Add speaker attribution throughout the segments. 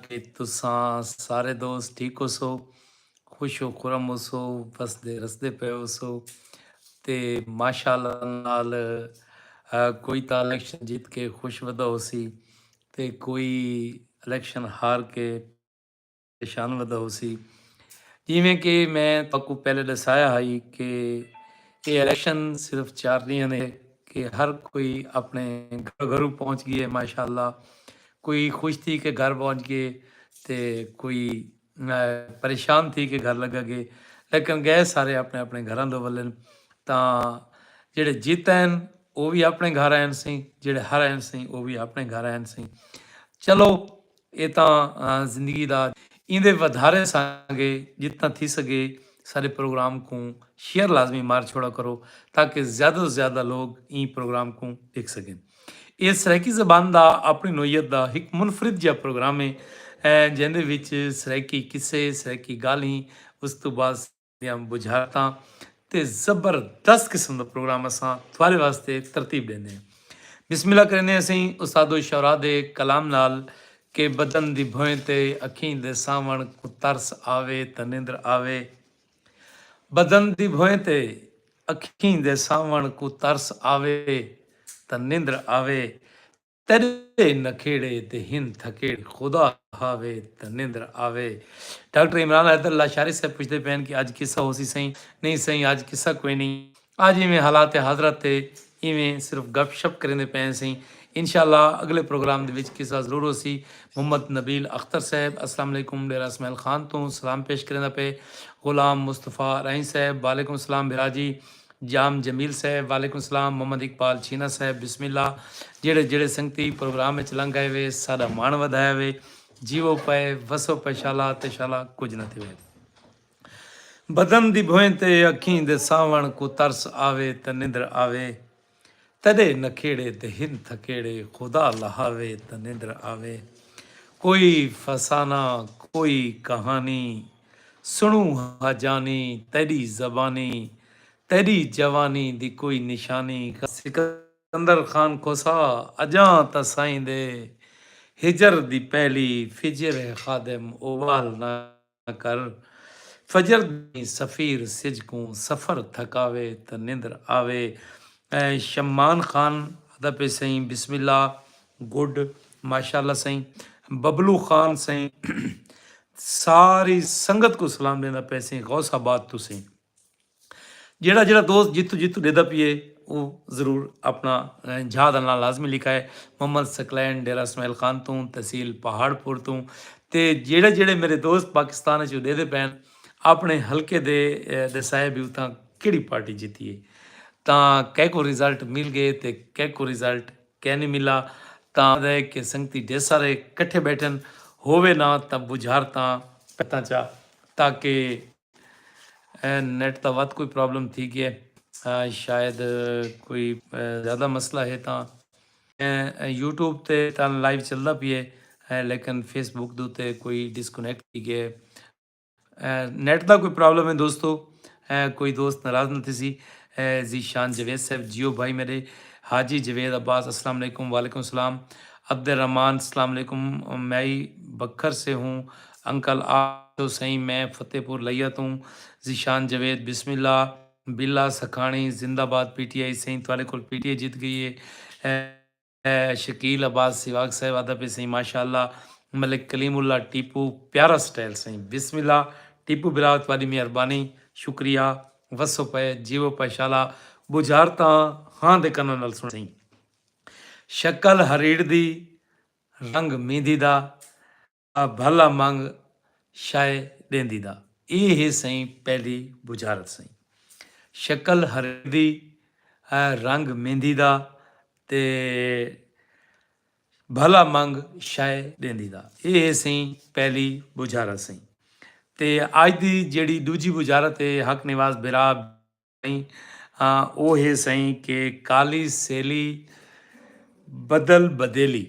Speaker 1: کہ تساں سارے دوست ٹھیک ہوسو خوش و خرم ہوسو وسدے رسدے پئے ہوسو تے ماشاءاللہ نال کوئی تاں الیکشن جیت کے خوش ودا ہوسی تے کوئی الیکشن ہار کے پریشان ودا ہوسی جیویں کہ میں تاکو پہلے ڈسایا ہائی کہ یہ الیکشن صرف چار ڈیاں نے کہ ہر کوئی اپنے گھر گھروں پہنچ گئے ماشاءاللہ کوئی خوش تھی کے گھر پہنچ گئے تے کوئی پریشان تھی کے گھر لگا گئے لیکن گئے سارے اپنے اپنے گھراں دو ولن تاں جیڑے جیت آئن او وی اپنے گھر آئن سی جیڑے ہر آئن سی او وی اپنے گھر آئن سی چلو اے تاں زندگی دا ایندے ودھارے ساں گے جتنا تھی سگے سارے پروگرام کوں شیئر لازمی مار چھوڑا کرو تاکہ زیادہ تو زیادہ لوگ ایں پروگرام کوں دیکھ سگن۔ ایہ سرائیکی زبان دا اپݨی نوعیت دا ہک منفرد جیہا پروگرام ہے جیندے وچ سرائیکی قصے، سرائیکی ڳالھیں، اس توں بعد سرائیکی دیاں ٻجھارتاں تے زبردست قسم دا پروگرام اساں تہاݙے واسطے ترتیب ݙیندے ہیں۔ بسم اللہ کریندے ہیں اسیں استاد الشعراء دے کلام نال کہ بدن دی بھوئیں تے اکھیں دے ساوݨ کوں ترس آوے تاں نندر آوے۔ بدن دی بھوئیں تے اکھیں دے ساوݨ کوں ترس آوے تاں نندر آوے تیݙے نکھیڑے تے ہن تھکیڑے خدا ہاوے تاں نندر آوے ڈاکٹر عمران حیدر لاشاری صاحب پچھدے پئن کہ اڄ قصہ ہوسی سئیں نہیں سئیں اڄ قصہ کوئنی آج ایویں حالات حاضرہ تے ایویں صرف گپ شپ کریندے پئے سئیں انشاءاللہ اگلے پروگرام دے وچ قصہ ضرور ہوسی محمد نبیل اختر صاحب السلام علیکم ڈیرہ اسماعیل خان توں سلام پیش کریندا پئے غلام مصطفی رائیں صاحب وعلیکم السلام بھرا جی جام جمیل صاحب وعلیکم السلام محمد اقبال چھینا صاحب بسم اللہ جیڑے جیڑے سنگتی پروگرام وچ لنگ آئے وے ساڈا مان ودھایا وے جیو پئے وسو پئے شالا تے شالا کچھ نہ تھے بدن دی بھوئیں تے اکھیں دے ساوݨ کوں ترس آوے تاں نندر آوے تݙے نکھیڑے تے ہن تھکیڑے خدا لہاوے تاں نندر آوے کوئی فسانہ کوئی کہانی سݨوں ہا جانی تیݙی زبانی تیݙی جوانی دی کوئی نشانی سکندر خان کھوسہ اڄاں تاں سائیں دے ہجر دی پہلی فجر ہے خادم اٻال نہ کر فجر دیں سفیر سجھ کوں سفر تھکاوے تاں نندر آوے شمان خان آدا پئے سئیں بسم اللہ گڈ ماشاءاللہ سئیں ببلو خان سئیں ساری سنگت کوں سلام ڈیندا پئے سئیں غوث آباد توں سئیں جیڑھا جیڑھا دوست جتھوں جتھوں ڈیدا پیئے او ضرور اپنا جھا دا ناں لازمی لکھائے محمد سکلین ڈیرہ اسماعیل خان توں تحصیل پہاڑ پور توں تے جیڑھے جیڑھے میرے دوست پاکستان وچ ڈیدے پین اپنے حلقے دے دسائے بھی اتھاں کیڑی پارٹی جیتی ہے تاں کہہ کو ریزلٹ مل گئے تے کہہ کو ریزلٹ کہہ نہیں ملا تاں دے کہ سنگتی ڈے سارے کٹھے بیٹھن ہووے نہ تاں بجھار تاں پتاں چا تاکہ اے نیٹ دا ودھ کوئی پرابلم تھی گئے شاید کوئی زیادہ مسئلہ ہے تاں یوٹیوب تے تاں لائیو چلدا پی ہے لیکن فیس بک دے تے کوئی ڈسکنیکٹ تھی گئے نیٹ دا کوئی پرابلم ہے دوستو کوئی دوست ناراض نہ تھیسی زی شان جوید صاحب جیو بھائی میرے حاجی جوید عباس السلام علیکم وعلیکم السلام عبد الرحمن السلام علیکم میں بکھر سے ہوں انکل آ گیو سئیں میں فتح پور لئیا توں ذیشان جاوید بسم اللہ باللہ سکھاݨی زندہ باد پی ٹی آئی سئیں تہاݙے کول پی ٹی آئی جیت گئی اے شکیل عباس سیواگ صاحب آہدا پئے سئیں ماشاء اللہ ملک کلیم اللہ ٹیپو پیارا سٹائل سئیں بسم اللہ ٹیپو برا تہاݙی مہربانی شکریہ وسو پئے جیوو پئے شالا ٻجھارتاں ہاں دے کناں نال سݨ سئیں شکل ہریڑ دی رنگ میندی دا آ بھلا منگ شئے ݙیندی دا اے ہے سئیں پہلی بجھارت سئیں شکل ہریندی اے رنگ میندی دا تے بھلا منگ شئے ݙیندی دا اے ہے سئیں پہلی بجھارت سئیں تے اج دی جیڑھی ݙوجھی بجھارت اے حق نواز بھرا او ہے سئیں کہ کالی سیلی بدل بدیلی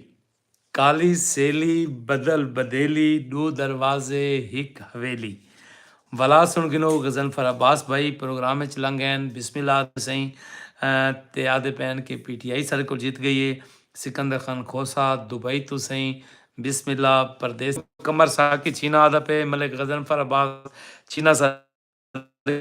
Speaker 1: کالی سیلی بدل بدیلی ڈو دروازے ہک حویلی ولا سن گنو غزنفر عباس بھائی پروگرام اچ لنگ گئن بسم اللہ آدھے سئیں تے آدھے پین کہ پی ٹی آئی ساڈے کول جیت گئی ہے سکندر خان کھوسہ دبئی توں سئیں بسم اللہ پردیسی قمر ساقی چھینا آدھا پئے ملک غزنفر عباس چھینا ساڈے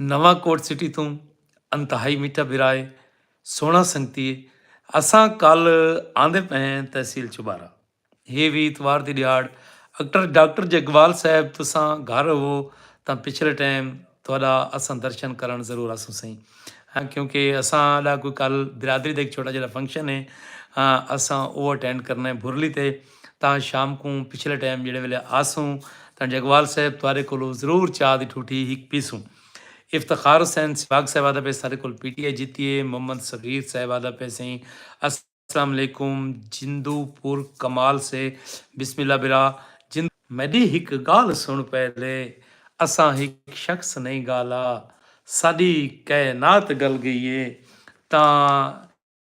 Speaker 1: نواں کوٹ سٹی توں انتہائی میٹھا بھرا اے سوہنڑا سنگتی اے اساں کل آندے پئے ہیں تحصیل چوبارہ ہے وی اتوار دی ڈیہاڑ اکٹر ڈاکٹر جگوال صاحب تساں گھر ہوو تاں پچھلے ٹائم تہاڈا اساں درشن کرنڑ ضرور آسوں سئیں ہاں کیونکہ اساں ڈا کوئی کل برادری دا ہک چھوٹا جیہڑا فنکشن اے اساں اوہ اٹینڈ کرنا اے بھرلی تے تاں شام کوں پچھلے ٹائم جیڑھے ویلے آسوں تاں ڈیگھوال صاحب تہاڈے کولوں ضرور چاء دی ٹھوٹھی ہک پیسوں۔ افتخار حسین سہواگ صاحب آہدا پئے ساڈے کول پی ٹی آئی جیتی اے، محمد صغیر صاحب آہدا پئے سئیں السلام علیکم جندو پور کمال سے بسم اللہ برا جندو۔ میڈی ہک گالھ سن پہلے اساں ہک شخص نئیں گالھا ساڈی کائنات گل گئی اے تاں۔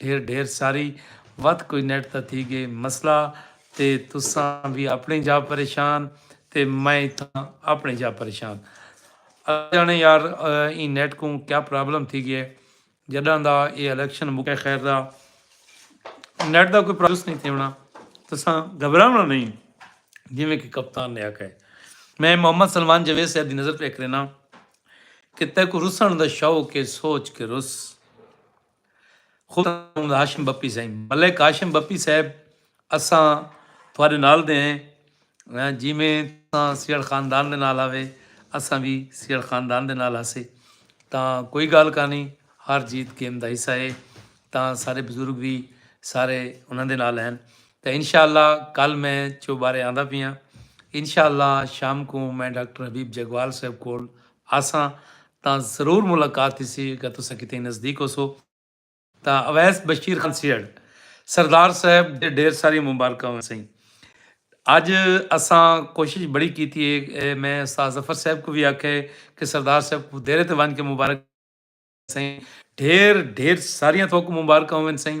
Speaker 1: ڈھیر ڈھیر ساری وت کوئی نیٹ دا تھی گئے مسئلہ تے تساں وی اپنڑیں جا پریشان تے میں اتھاں اپنڑیں جا پریشان اللہ جانے یار ایں نیٹ کوں کیا پرابلم تھی گئے جڈاں دا اے الیکشن مکے خیر دا نیٹ دا کوئی پرابلم نہیں تھیونڑا تساں گھبراونڑاں نہیں جویں کہ کپتان نے آکھیا ہے میں محمد سلمان جاوید صاحب دی نظر پہ کرینا کہ تیکو رسن دا شوق کے سوچ کے رس خدا محمد ہاشم بپی سائیں ملک ہاشم بپی صاحب اساں تھوڑے نال دے ہیں جیویں تساں سیڑ خاندان دے نال آوے اساں بھی سیڑ خاندان دے نال آسے تاں کوئی گال کہانی ہر جیت گیم دا حصہ ہے تاں سارے بزرگ بھی سارے انہاں دے نال ہیں تاں انشاءاللہ کل میں چو بارے آندا پیاں انشاءاللہ شام کو میں ڈاکٹر حبیب جگوال صاحب کول آساں تاں ضرور ملاقات تھیسی اگر تساں کتیں نزدیک ہوسو تاں اویس بشیر خان سیہڑ سردار صاحب دے ڈھیر ساریاں مبارکاں ہوسئیں اج اساں کوشش بڑی کیتی ہے میں استاد ظفر صاحب کوں وی آکھیا ہے کہ سردار صاحب کوں دیرے تے ونج کے مبارک سئیں ڈھیر ڈھیر ساریاں تھوکوں مبارکاں ہوسئیں۔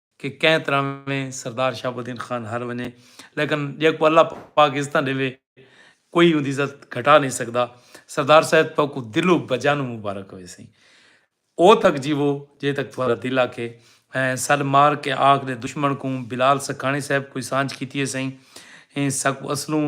Speaker 1: کہ کئیں تراویں سردار شہاب الدین خان ہار ونجے لیکن جیکوں اللہ پاک عزتاں ڈیوے کوئی اوندی عزت گھٹا نہیں سگدا سردار صاحب تہاکوں دلوں بجانوں مبارک ہویسیں او تک جیوو جے تک تہاڈا دل آکھے ایں سل مار کے آکھ دے دشمن کوں بلال سکھانی صاحب کوئی سانجھ کیتی ہیسیں ایں ساکوں اصلوں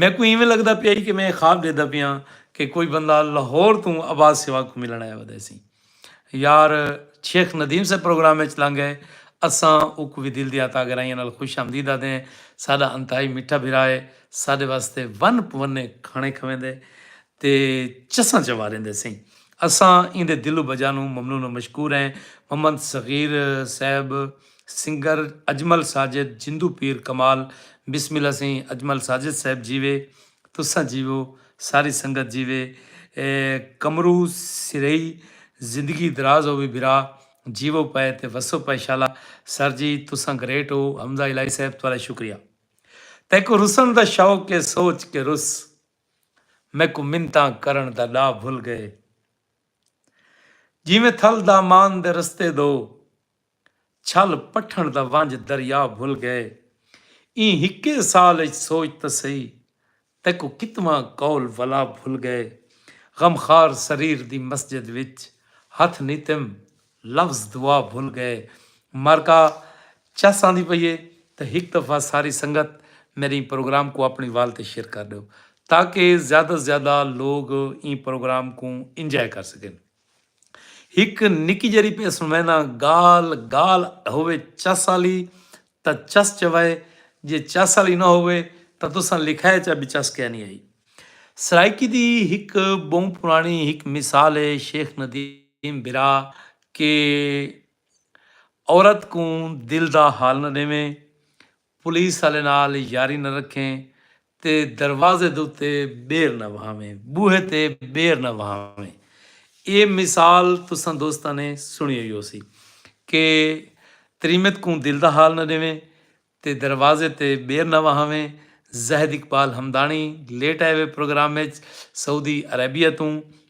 Speaker 1: میکوں ایویں لگدا پیا ہئی کہ میں خواب ڈیہدا پیاں کہ کوئی بندہ لاہور توں عباس سیواگ کوں ملن آیا ودے سی۔ یار شیخ ندیم صاحب پروگرام اچ لنگ گئے۔ اساں اوکوں وی دل دیاں تاگرائیاں نال خوش آمدید آدھیں۔ ساڈا انتہائی میٹھا بھرا ہے۔ ساڈے واسطے ون پونے کھانے کھویندے تے چساں چواریندے سئیں۔ اساں ایندے دل و بجا نوں ممنون و مشکور ہیں۔ محمد صغیر صاحب۔ سنگر اجمل ساجد جندو پیر کمال بسم اللہ سئیں اجمل ساجد صاحب جیوے تساں جیوو ساری سنگت جیوے قمرو سرہی زندگی دراز ہووی بھرا جیوو پئے تے وسو پئے شالا سر جی تساں گریٹ ہو حمزہ الہی صاحب تہاڈا شکریہ تیکوں رسن دا شوق اے سوچ کے رس میکوں منتاں کرن دا ڈاہ بھل گئے جیویں تھل دامان دے رستے دو چھل پٹھݨ دا ونج دریا بھل گئے ایں ہکے سال اچ سوچ تاں سہی تیکوں کتواں قول ولا بھل گئے غمخوار سریر دی مسجد وچ ہتھ نیتم لفظ دعا بھل گئے مرکا چس آندی پئی اے تاں ہک دفعہ ساری سنگت میرے ایں پروگرام کوں اپنڑی وال تے شیئر کر ڈیو تاکہ زیادہ زیادہ لوگ ایں پروگرام کوں انجوائے کر سگن۔ ہک نکی جیرھی پئے سنوینداں گال گال ہووے چس آلی تاں چس چوائے جے چس آلی نہ ہووے تاں تساں لکھائے چا بی چس کینی آئی۔ سرائیکی دی ہک بہوں پرانی ہک مثال اے شیخ ندیم بھرا کہ عورت کوں دل دا حال نہ ڈیویں پولیس آلے نال یاری نہ رکھیں تے دروازے دے اتے ٻیر نہ وہاویں، ٻوہے تے ٻیر نہ وہاویں۔ اے مثال تساں دوستاں نے سݨی ہوئی ہوسی کہ تریمت کوں دل دا حال نہ ݙیویں تے دروازے تے ٻیر نہ وہاویں۔ زاہد اقبال ہمداݨی لیٹ آئے ہوئے پروگرام اچ سعودی عربیہ توں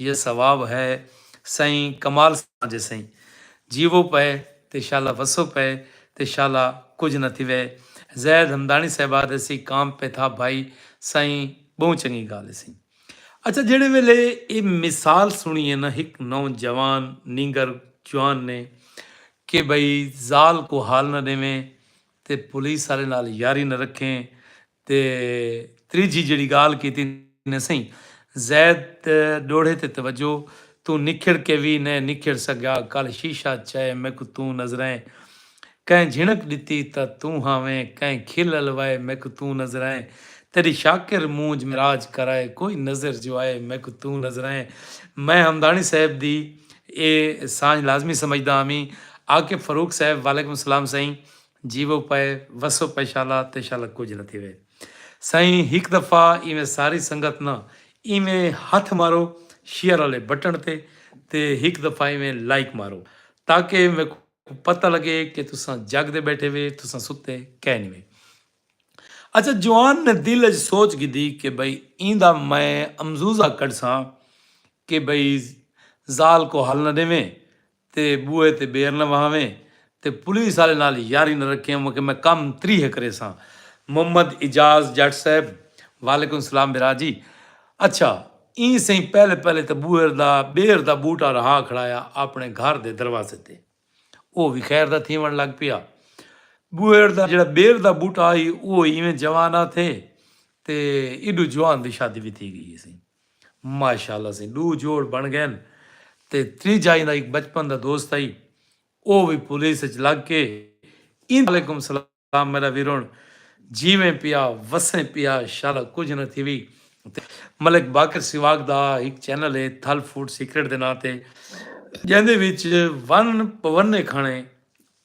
Speaker 1: یہ ثواب ہے سئیں کمال ساں جے سئیں جیوو پئے تے شالا وسو پئے تے شالا کجھ نہ تھیوے زید ہمدانی صاحباد ایسی کام پہ تھا بھائی سائیں بہوں چنگی گال ہے سئیں اچھا جیڑھے ویلے اے مثال سنی ہے نہ ہک نوجوان نینگر جوان نے کہ بھائی زال کو حال نہ ڈیویں تے پولیس آلے نال یاری نہ رکھیں تے تریجھی جیڑھی گالھ کیتی نہ سئیں زید تے ڈوہڑے تے توجہ توں نکھڑ کے وی نئیں نکھڑ سگیا کل شیشہ چائے میکوں توں نظرائیں کئیں جھنک ڈتی تاں توں ہاویں کئیں کھل الوائے میکوں توں نظرائیں تیڈی شاکر مونجھ معراج کرائے کوئی نظر جو آئے میکوں توں نظرائیں میں حمدانی صاحب دی اے سانجھ لازمی سمجھدا ہاں وی آکے فاروق صاحب وعلیکم السلام سئیں جیوو پئے وسو پئے شالا تے شالا کجھ نہ تھیوے سائیں ہک دفعہ ایویں ساری سنگت نہ ایویں ہتھ مارو شیئر آلے بٹن تے تے ہک دفعہ ایویں لائک مارو تاکہ میکوں پتہ لگے کہ تساں جگ دے بیٹھے وے تساں ستے کئے نی وے اچھا جوان نے دل اچ سوچ گھدی کہ بھئی ایندا میں امزوزہ کڈھساں کہ بھئی زال کو ہل نہ ڈیویں تے بوئے تے بیر نہ وہاویں تے پولیس آلے نال یاری نہ رکھیں اوہاں کہ میں کم تری ہے کریساں محمد اعجاز جٹ صاحب وعلیکم السلام بھرا جی اچھا ایں سئیں پہلے پہلے تے بوہر دا بیر دا بوٹا رہا کھڑایا آپنے گھر دے دروازے تے اوہ وی خیر دا تھیون لگ پیا بوہر دا جیڑا بیر دا بوٹا ہئی اوہ ایویں جوان آ تھے تے ایڈو جوان دی شادی وی تھی گئی ہیسی۔ ماشاءاللہ سئیں ڈو جوڑ بن گئن تے تریجا ایندا ہک بچپن دا دوست ہئی او وی پولیس اچ لگ کے ایندا وعلیکم سلام میڈا ویرون جیویں پیا وسیں پیا شالا کجھ نہ تھیوی تے ملک باقر سیواگ دا ہک چینل ہے تھل فوڈ سیکرٹ دے ناں تے جیندے وچ ون پونے کھانے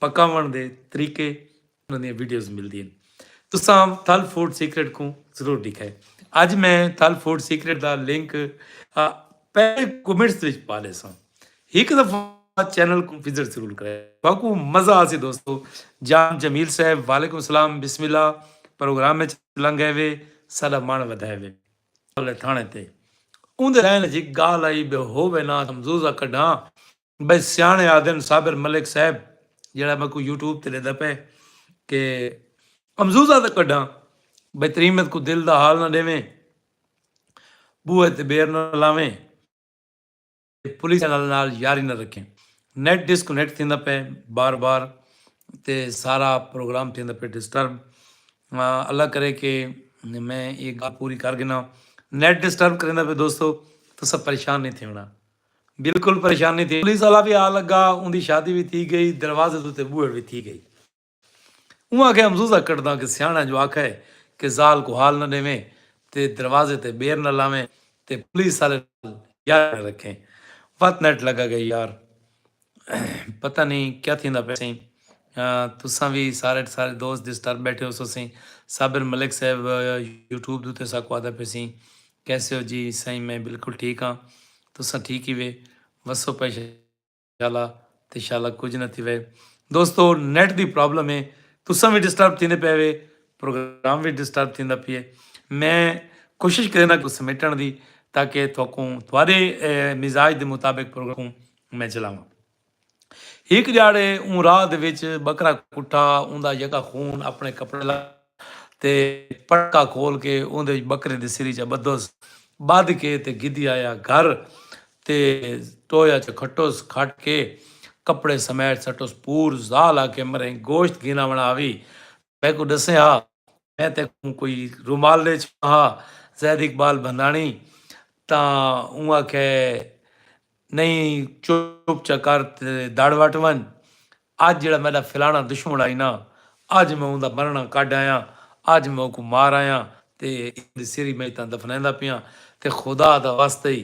Speaker 1: پکاون دے طریقے انہاں دیاں ویڈیوز ملدین تساں تھل فوڈ سیکرٹ کوں ضرور ڈیکھائے اج میں تھل فوڈ سیکرٹ دا لنک پہلے کمنٹس وچ پا لیساں ہک دفعہ چینل کوں وزٹ ضرور کرے باکو مزہ آسی دوستو جام جمیل صاحب وعلیکم السلام بسم اللہ پروگرام وچ لنگ ہے وے ساڈا مان ودھائے وے تھانے تے اون دے لائن جی گال آئی بے ہووے نا ہمزوزہ کڈھاں بھئی سیاݨے آہدن صابر ملک صاحب جیڑھا میکوں یوٹیوب تے ݙیندا پئے کہ امزوزہ تاں کڈھاں بھئی تریمت کوں دل دا حال نہ ݙیویں بوہے تے بیر نہ لاویں تے پولیس چینل نال یاری نہ رکھیں نیٹ ڈس کنیکٹ تھیندا پئے بار بار تے سارا پروگرام تھیندا پئے ڈسٹرب اللہ کرے کہ میں ایہ گالھ پوری کر گھناں نیٹ ڈسٹرب کریندا پئے دوستو تساں پریشان نہیں تھیوݨا۔ بالکل پریشانی تھی پولیس آلا وی آ لگا اوندی شادی وی تھی گئی دروازے دے اتے بوہڑ وی تھی گئی اوں آکھیا امزوزہ کڈھداں کہ سیاݨاں جو آکھا ہے کہ زال کوں حال نہ ڈیویں تے دروازے تے بیر نہ لاویں تے پولیس آلے نال یاری نہ رکھیں وت نیٹ لگا گئی یار پتہ نئیں کیا تھیندا پئے سئیں۔ تساں وی سارے سارے دوست ڈسٹرب بیٹھے ہوسو سئیں۔ صابر ملک صاحب یوٹیوب دے اتے ساکوں آہدا پئے سئیں کیسے ہو جی سائیں میں بلکل ٹھیک ہاں تساں ٹھیک ہیوے وسو پئے شالا تے شالا کجھ نہ تھیوے دوستو نیٹ دی پرابلم ہے تساں وی ڈسٹرب تھیندے پئے ہوے پروگرام وی ڈسٹرب تھیندا پیے میں کوشش کرینداں سمیٹن دی تاکہ تھوکوں تھوڑے مزاج دے مطابق پروگرام میں چلاواں۔ ہک جاڑے اوں راہ دے وچ بکرا کٹا اوندا یکا خون اپنے کپڑے لا تے پٹکا کھول کے اوندے وچ بکرے دے سری چا بدھوس بدھ کے تے گھدی آیا گھر تے ٹویا چا کھٹوس کھٹ کے کپڑے سمیٹ سٹوس پور زال آکھے مریں گوشت گھینا ونا آوی میکوں ڈسیں ہا میں تیکوں کوئی رومال ڈے چھوڑاں ہا زید اقبال بھنداݨی تاں اوں آکھے نئیں چپ چا کر تے دڑ وٹ ونڄ اج جیڑھا میݙا فلاݨا دشمن آئی نا اج میں اوندا مرݨا کڈھ آیاں اج میں اوکوں مار آیاں تے اوندی سری میں اتاں دفنیندا پیاں تے خدا دا واسطہ ای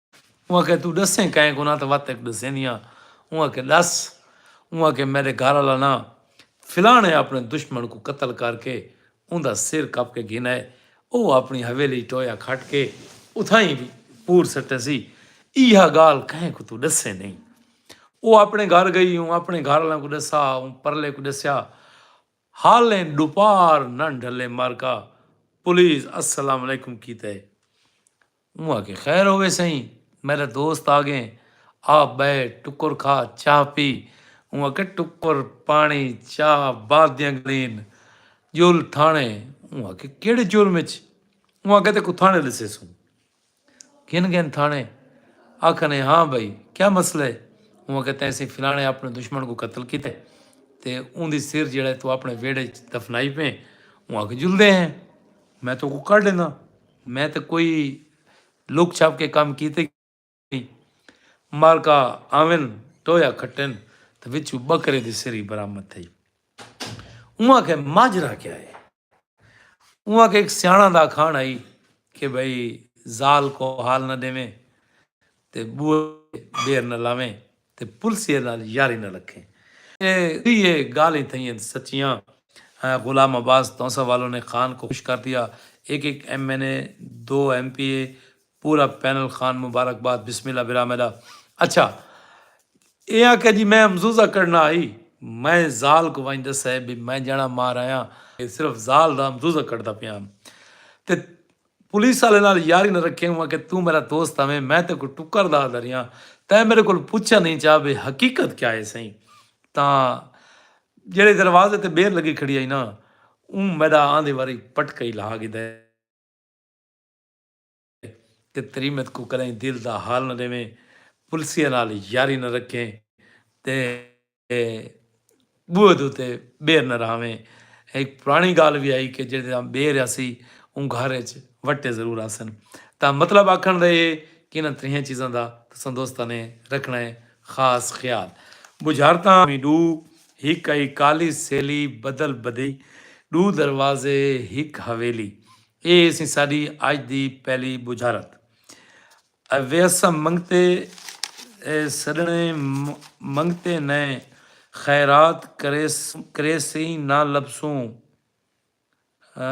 Speaker 1: اوں آکھیا توں ڈسیں کائیں کوں نہ تاں وت ہک ڈسیندی آں اوں آکھیا ڈس اوں آکھیا میڈے گھر آلا نہ فلانے اپنے دشمن کوں قتل کر کے اوندا سر کپ کے گھن آئے او اپنی حویلی اچ ٹویا کھٹ کے اتھائیں وی پور سٹے سی ایہا گالھ کہیں کوں توں ڈسیں نہیں او اپنے گھر گئی اوں اپنے گھر آلاں کوں ڈسا اوں پرلے کوں ڈسیا حالیں ڈوپار نہ ڈھلے مرکا پولیس السلام علیکم کیتے اے اوں آکھے خیر ہووے سئیں میڈا دوست آگئے آپ بئے ٹکر کھا چاہ پی اوں آکھے ٹکر پانی چاہ بعد دیاں گالھین جل تھانے اوں آکھے کیڑھے جرم اچ اوں آکھے تیکوں تھانے ڈسیسوں۔ گھن گھن تھانے آکھن اے ہاں بھئی کیا مسئلہ اے؟ اوں آکھیا تیسیں فلانے آپنے دشمن کوں قتل کیتے تے اوندی سر جیڑھا اے توں آپنے ویڑھے اچ دفنائی پئیں اوں آکھیا جلدے ہیں میں توکوں کڈھ ڈینداں میں تاں کوئی لک چھپ کے کم کیتے کوئی نئیں مالکا آون ٹویا کھٹن تاں وچوں بکرے دی سری برآمد تھئی اوں آکھیا ماجرا کیا اے؟ اوں آکھیا ہک سیاݨاں دا اکھاݨ ہئی کہ بھئی ذال کوں حال نہ ݙیویں تے ٻوہے دیر نہ لاویں تے پلسیے نال یاری نہ رکھیں۔ اے تریہے ڳالھیں تھئین سچیاں۔ غلام عباس تونسہ والوں نے خان کوں خوش کر دیا۔ ہک ہک ایم این اے، دو ایم پی اے، پورا پینل خان مبارک باد بسم اللہ برا میڈا اچھا اے آکھیا جی میں امزوزہ کڈنا ہئی میں زال کو ونج ڈسا ہے بی میں جنا مار آیاں اے صرف زال دا امزوزہ کڈدا پیا ہم تے پولیس آلے نال یاری نہ رکھیں ہوں کہ توں میرا دوست ہویں میں تے کو ٹکر دا دریا تے میرے کول پوچھا نہیں چا بی حقیقت کیا ہے سہی تاں جڑے دروازے تے بیر لگی کھڑی ہئی نا اوں میڈا آندے واری پٹکئی لہا گدے۔ تے تریمت کوں کدائیں دل دا حال نہ ڈیویں، پلسیاں نال یاری نہ رکھیں تے بوہد اتے بیر نہ رہاویں۔ ہک پرانی گالھ وی ہئی کہ جیڑھے تاں بیر ہاسی اوں گھر اچ وٹے ضرور ہاسن۔ تاں مطلب آکھن دا اے ہے کہ انہاں تریہاں چیزاں دا تساں دوستاں نے رکھنا ہے خاص خیال۔ بجھارتاں وی ڈو، ہک ہئی کالی سیلی بدل بدی، ڈو دروازے ہک حویلی۔ اے سی ساڈی اج دی پہلی بجھارت۔ اے ویساں منگتے اے سڈھنے منگتے نے خیرات کریسیں نہ لبھسوں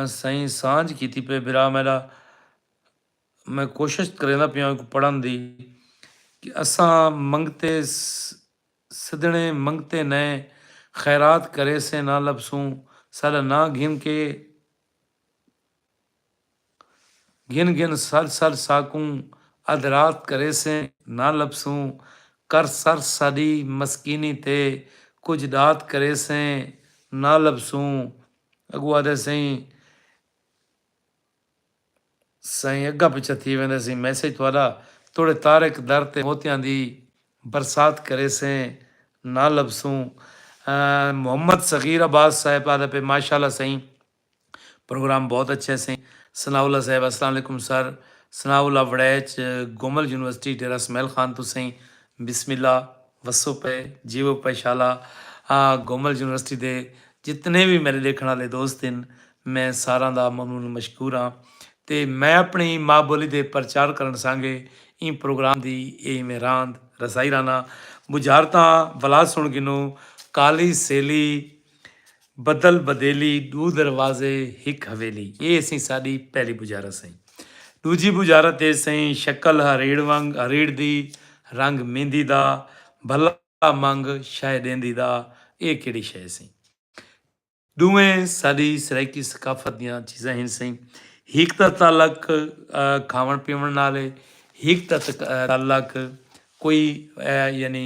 Speaker 1: سئیں سانجھ کیتی پئے بھرا میڈا میں کوشش کریندا پیاں ایکوں پڑھن دی کہ اساں منگتے سدھنے منگتے نے خیرات کریسیں نہ لبھسوں ساڈا ناں گھن کے گھن گھن سر سر ساکوں ادھ رات کریسیں نہ لبھسوں کر سر ساڈی مسکینی تے کجھ ڈات کریسیں نہ لبھسوں اگو آدھے سئیں سائیں اگا پچھا تھی ویندے سئیں میسج تہاڈا توڑے طارق در تے موتیاں دی برسات کریسیں نہ لبھسوں محمد صغیر عباس صاحب آدھے پئے ماشاءاللہ سئیں پروگرام بہت اچھے سے ثناء اللہ صاحب۔ السلام علیکم sir Sanaullah Warraich Gomal university Dera Ismail Khan توں سئیں بسم اللہ وسو پئے جیوو پئے شالا گومل یونیورسٹی دے جتنے وی میرے ڈیکھن آلے دوست ہن میں ساراں دا ممنون و مشکور ہاں تے میں اپنی ماء بولی دے پرچار کرن سانگے ایں پروگرام دی اے ایویں راند رسائی رہنا بجھارتاں ولا سن گھنو کالی سیلی بدل بدیلی ݙو دروازے ہک حویلی اے سئیں ساݙی پہلی بجارت سئیں ݙوجھی بجارت اے سئیں شکل ہریڑ ونگ ہریڑ دی رنگ میندی دا بھلا منگ شئے ݙیندی دا اے کیڑھی شئے سئیں ݙوہیں ساݙی سرائیکی ثقافت دیاں چیزاں ہن سئیں ہک دا تعلق کھاوݨ پیوݨ نال اے ہک دا تعلق کوئی یعنی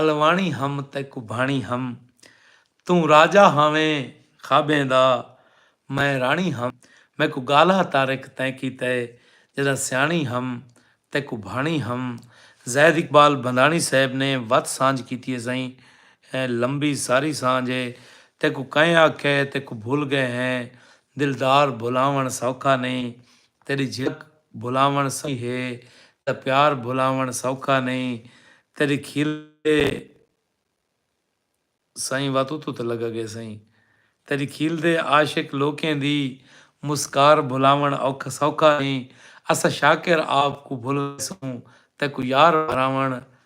Speaker 1: الواݨی ہم تے کبھاݨی ہم توں راجہ ہاویں خوابیں دا میں راݨی ہم میکوں ڳالہا طارق تیں کیتے جݙاں سیاݨی ہم تے کبھاݨی ہم زید اقبال بھنداݨی صاحب نے وت سانجھ کیتی ہے سئیں لمبی ساری سانجھ ہے تیکوں کئیں آکھے تیکوں بھل ڳئے ہیں دلدار بھلاوݨ سوکھا نئیں تیݙی جھلک بھلاوݨ سوکھی ہے تیݙا پیار بھلاوݨ سوکھا نئیں تیݙی کھیلدے سئیں وا توں توں تاں لڳا ڳئے سئیں تیݙی کھیلدے عاشق لوکیں دی مسکار بھلاوݨ اوکھا سوکھا نئیں اساں شاکر آپ کوں بھل ویسوں تیکوں یار بھراوݨ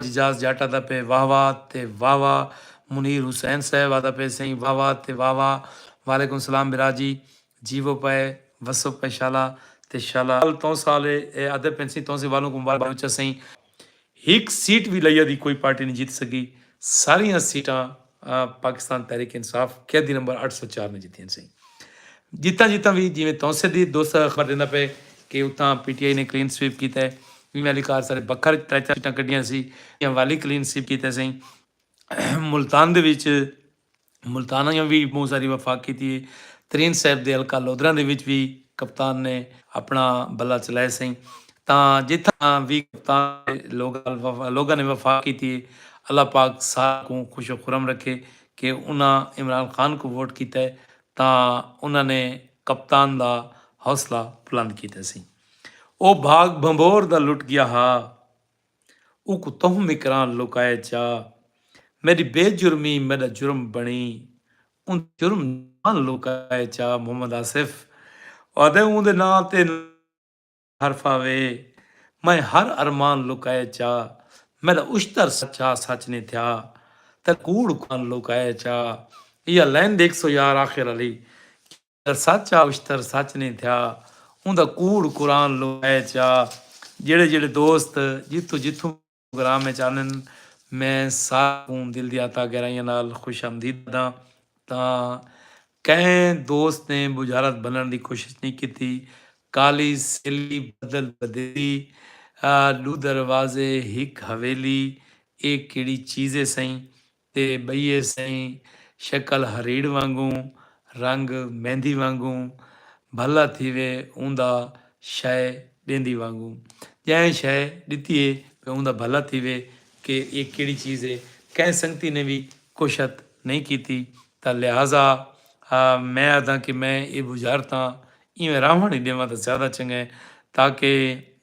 Speaker 1: اعجاز جٹ آدا پئے واہ واہ تے واہ واہ منیر حسین صاحب آدا پئے سئیں واہ واہ تے واہ واہ وعلیکم السلام برا جی جیوو پئے وسو پئے شالا تے شالا توں سال اے آدے پئن سئیں توں سے والوں کوں مبارک بلوچا سئیں ہک سیٹ وی لئیا دی کوئی پارٹی نی جیت سگی ساریاں سیٹاں پاکستان تحریک انصاف قیدی نمبر اٹھ سو چار نے جتیاں سیں جتاں جتاں وی جیویں تونسے دی دوسرا خبر دیندا پئے کہ اتھاں پی ٹی آئی نے کلین سویپ کیتا ہے ایویں والی کار سارے بکھر وچ ترے چار سیٹاں کڈھیاں سی ایویں والی کلین سویپ کیتا سیں ملتان دے وچ ملتان آیاں وی بہت ساری وفاق کیتی ہے ترین صاحب دے حلقہ لودھراں دے وچ وی کپتان نے اپنا بلا چلائے سیں تاں جتھاں وی کپتان دے لوگاں نے وفاق کیتی اے اللہ پاک ساریں کوں خوش و خرم رکھے کہ انہاں عمران خان کوں ووٹ کیتا اے تاں انہاں نے کپتان دا حوصلہ بلند کیتا سی او بھاگ بھنبھور دا لٹ گیا ہا اوکوں تہوں مکراں لکائے چا میڈی بے جرمی میڈا جرم بنڑی اوندے جرم ناں لکائے چا محمد آصف آدھے اوندے ناں تے حرفہ وے میں ہر ارمان لکائے چا میݙا اشتر سچا سچ نی تھیا تیݙا کوڑ کوڑ لکائے چا ایہا لائن ݙیکھ سو یار آخر آلی کیڑا سچ آ اشتر سچ نی تھیا اوندا کوڑ کوڑ لکائے چا جیڑھے جیڑھے دوست جتھوں جتھوں پروگرام اچ آندن میں ساریں کوں دل دیاں تہہ گہرائیاں نال خوش آمدید آدھاں تاں کہیں دوست نے بجھارت بھنڑ دی کوشش نئیں کیتی کالی سیلی بدل بدیلی ڈو دروازے ہک حویلی اے کیڑی چیز اے سئیں تے ٻئیے سئیں شکل ہریڑ وانگوں رنگ مہندی وانگوں بھلا تھیوے اوندا شئے ݙیندی وانگوں ڄائیں شئے ݙتی ہے پے اوندا بھلا تھیوے کہ ایہ کیڑھی چیز ہے کہیں سنگتی نے وی کوشت نئیں کیتی تاں لہذا میں آدھاں کہ میں ایہ بجھارتاں ایویں راہوݨ ہی ݙیواں تاں زیادہ چنگے تاکہ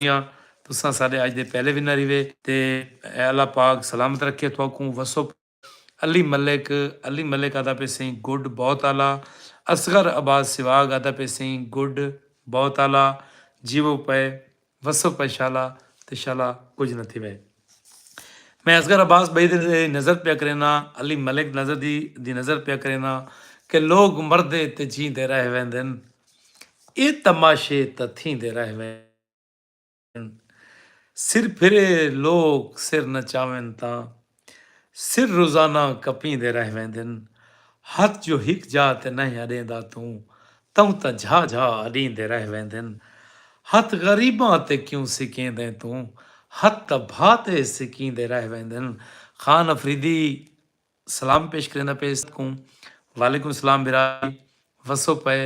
Speaker 1: کیاں تساں ساڈے اج دے پہلے ونر ہیوے تے اے اللہ پاک سلامت رکھے تھواکوں وسو پاؤ علی ملک علی ملک آدا پے سئیں گڈ بہت اعلی اصغر عباس سواگ آدا پے سئیں گڈ بہت اعلی جیوو پئے وسو پئے شالا تے شالا کجھ نہ تھیوے۔ میں اصغر عباس بھئی دی نظر پیا کرینداں، علی ملک نظری دی نظر پیا کرینداں کہ لوک مردے تے جیندے رہ ویندن۔ اے تماشے تاں تھیندے رہ ویندن۔ سر پھرے لوک سر نچاون تاں سر روزانہ کپیندے رہ ویندن۔ ہتھ جو ہک جاہ تے نئیں اڈیندا توں توں تاں جھا جھا اڈیندے رہ ویندن ہتھ غریباں تے کیوں سکیندیں توں ہتھ تاں بھا تے سکیندے رہ ویندن خان افریدی سلام پیش کریندا پئے سب کوں وعلیکم سلام بھرا جی وسو پئے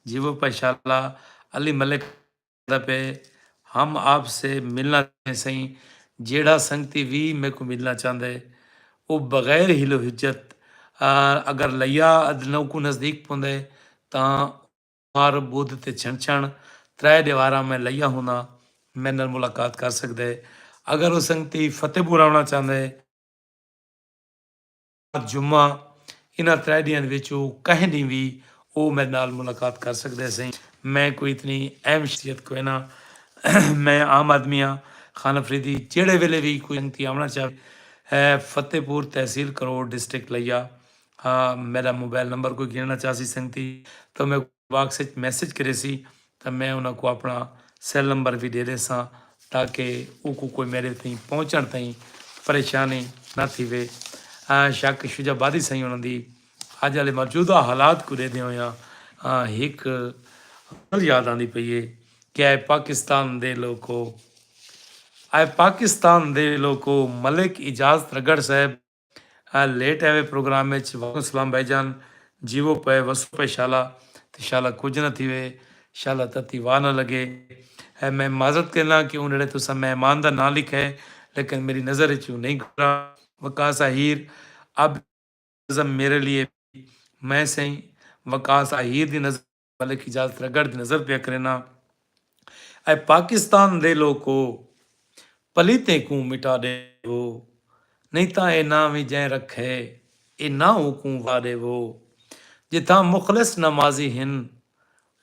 Speaker 1: جیوو پئے شالا علی ملک۔ کردا پئے ہم آپ سے ملنا چاہتے سئیں جیڑھا سنگتی وی میکوں ملنا چاہندا ہے او بغیر حیل و حجت اگر لیا ادنوکوں نزدیک پوندا ہے تاں سومار بدھ تے چھنچھن ترے ڈیواراں میں لیا ہونداں میڈے نال ملاقات کر سگدا ہے اگر او سنگتی فتح پور آونا چاہندا ہے اج جمعہ ہے انہاں ترے ڈینہاں دے وچ او کہیں ڈینہہ وی او میڈے نال ملاقات کر سکدے سئیں میں کوئی اتنی اہم شخصیت کوئی نہ میں عام آدمی ہاں خان افریدی جیڑھے ویلے وی کوئی سنگتی آونا چاہے ہے فتح پور تحصیل کروڑ ڈسٹرکٹ لیا میڈا موبائل نمبر کوئی گھننا چاہسی سنگتی تو میں باکس اچ میسج کریسی تاں میں انہاں کوں اپݨا سیل نمبر وی ݙے ݙیساں تاکہ اوکوں کوئی میݙے تئیں پہنچݨ تئیں پریشانی نہ تھیوے۔ شک شجاع آبادی سئیں انہاں دی اڄ آلے موجودہ حالات کوں ݙیہدیں ہوئیاں ہک غزل یاد آندی پئی اے کہ اے پاکستان دے لوکو اے پاکستان دے لوکو ملک اجاز ترگڑ صاحب اے لیٹ ایوے پروگرام اچ وعلیکم سلام بھائی جان جیوو پئے وسو پئے شالا تے شالا کجھ نہ تھیوے شالا تتی واہ نہ لگے اے میں معذرت کرینداں کہ اوں نیڑے تساں مہمان دا ناں لکھئے لیکن میری نظر اچ اوں نہیں گزرا وقاص آہیر اب نظم میرے لیے بھی میں سئیں وقاص آہیر دی نظم ملک اجاز تیرا گڑھ دی نظر پیا کرینا اے پاکستان دے لوکو پلیتیں کوں مٹا ڈے وو نہیں تاں اے ناں وی جئیں رکھے اے ناں اوکوں وا ڈے وو جتھاں مخلص نمازی ہن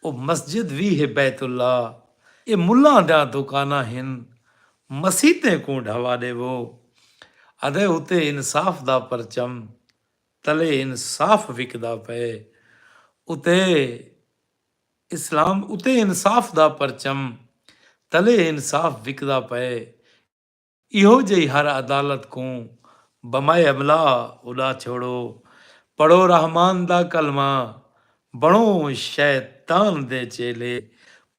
Speaker 1: او مسجد وی ہے بیت اللہ اے ملاں دیاں دوکاناں ہن مسیتیں کوں ڈھوا ڈے وو ادے اتے انصاف دا پرچم تلے انصاف وکدا پئے اتے اسلام اتے انصاف دا پرچم تلے انصاف وکدا پئے ایہو جئی ہر عدالت کوں بمائے املا اڈا چھوڑو پڑھو رحمان دا کلمہ بنڑو شیطان دے چیلے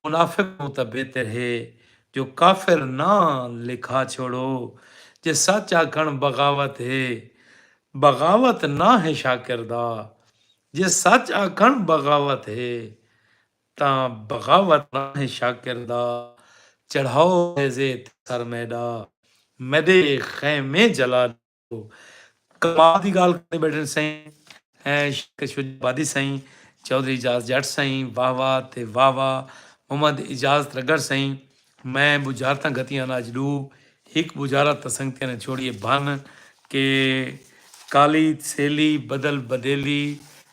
Speaker 1: منافق توں تاں بہتر ہے جو کافر ناں لکھا چھوڑو جے سچ آکھنڑ بغاوت ہے بغاوت نہ ہے شاکر دا جے سچ آکھݨ بغاوت ہے تاں بغاوت نہ ہے شاکر دا چڑھاؤ نیزے تے سر میݙا میݙے خیمے جلا ݙیو کمال دی ڳالھ کریندے ٻیٹھن سئیں شیخ شجاع آبادی سئیں چوہدری اعجاز ڄٹ سئیں واہ واہ تے واہ واہ محمد اعجاز ترگڑ سئیں میں بجھارتاں گھتیاں ہن اج ڈو ہک بجھارت تاں سنگتیاں نے چھوڑیے بھن کہ کالی سیلی بدل بدیلی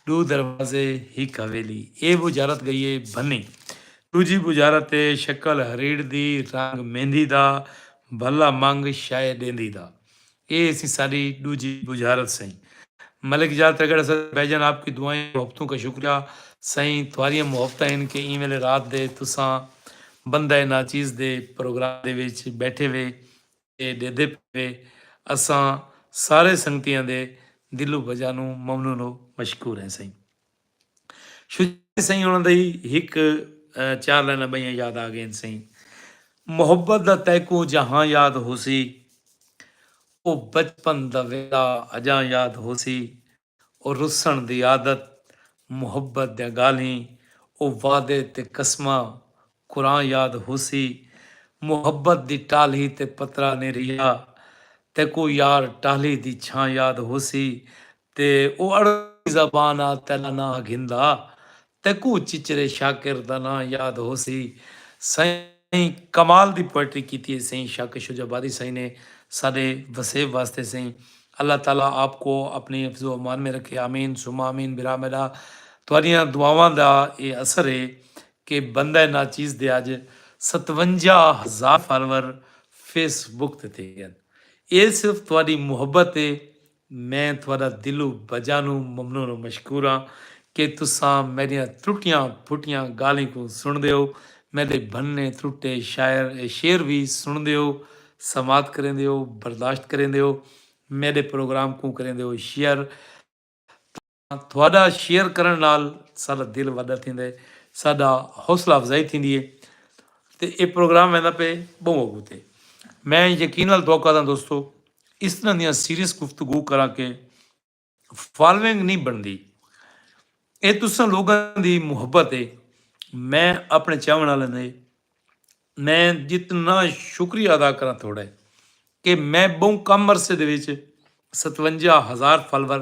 Speaker 1: ڈو دروازے ہک حویلی اے بجھارت گئی اے بھنی ڈوجھی بجھارت اے شکل ہریڑ دی رنگ میندی دا بھلا منگ شئے ڈیندی دا اے اسی ساڈی ڈوجھی بجھارت سئیں۔ ملک جار ترگڑ اسد بھائی جان آپ کی دعائیں و محبتوں کا شکریہ سئیں تھواریاں محبتاں ہن کہ ایں ویلے رات دے تساں بندہ ناچیز دے پروگرام دے وچ بیٹھے وے تے ڈیدھے پے وے اساں سارے سنگتیاں دے دلوں بجانوں ممنون و مشکور ہیں سئیں۔ شجاعت سئیں انہاں دی ہک چار لائناں ٻئیاں یاد آ ڳئین سئیں۔ محبت دا تیکوں جہاں یاد ہوسی او بچپن دا ویلا اڄاں یاد ہوسی او رسݨ دی عادت محبت دیاں ڳالھیں او وعدے تے قسماں قرآن یاد ہوسی محبت دی ٹالھی تے پترا نیں رہیا تیکوں یار ٹالھی دی چھاں یاد ہوسی تے او اڑتی زبان آ تیڈا ناں گھندا تیکوں چچرے شاکر دا ناں یاد ہوسی سئیں کمال دی پوئٹری کیتی ہے سئیں شاکر شجاع آبادی سئیں نے ساڈے وسیب واسطے سئیں اللہ تعالی آپ کو اپنی حفظ و امان میں رکھے آمین ثم آمین بھرا میڈا تہاڈیاں دعاواں دا اے اثر ہے کہ بندہ ناچیز دے اج ستونجاہ ہزار فالوور فیس بک تے تھی گئن اے صرف تہاڈی محبت اے میں تہاڈا دلو بجانو ممنون و مشکور آں کہ تساں میڈیاں ترٹیاں پھٹیاں گالھیں کوں سنڑدے او میڈے بھننے ترٹے شاعر شعر وی سنڑدے او سماعت کریندے او برداشت کریندے او میڈے پروگرام کوں کریندے او شیئر تاں تہاݙا شیئر کرݨ نال ساݙا دل وݙا تھیندا ہے ساݙا حوصلہ افزائی تھیندی ہے تے ایہ پروگرام ویندا پئے ٻہوں اڳوں تے میں یقین نال دعا کردا دوستو اس طرح دیاں سیریس گفتگو کراں کہ فالونگ نہیں بݨدی ایہ تساں لوگاں دی محبت ہے میں اپݨے چاہوݨ والے نے میں جتنا شکریہ ادا کراں تھوڑا ہے کہ میں بہوں کم عرصے دے وچ ستونجا ہزار فالور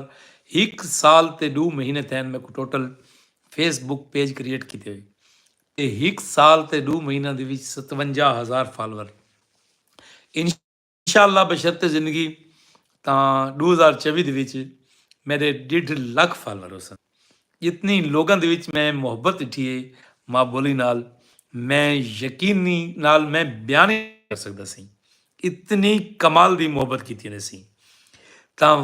Speaker 1: ہک سال تے ڈو مہینے تھین میکوں total Facebook page create کیتے ہوئے تے ہک سال تے ڈو مہینہ دے وچ ستونجا ہزار فالور ان انشاءاللہ بشرط زندگی تاں ݙو ہزار چوی دے وچ میݙے ݙیڈھ لکھ فالوور ہوسن جتنی لوکاں دے وچ میں محبت ݙٹھی ہے ماں ٻولی نال میں یقینی نال میں بیان ہی نہ کر سڳدا سئیں اتنی کمال دی محبت کیتی انہیں سئیں تاں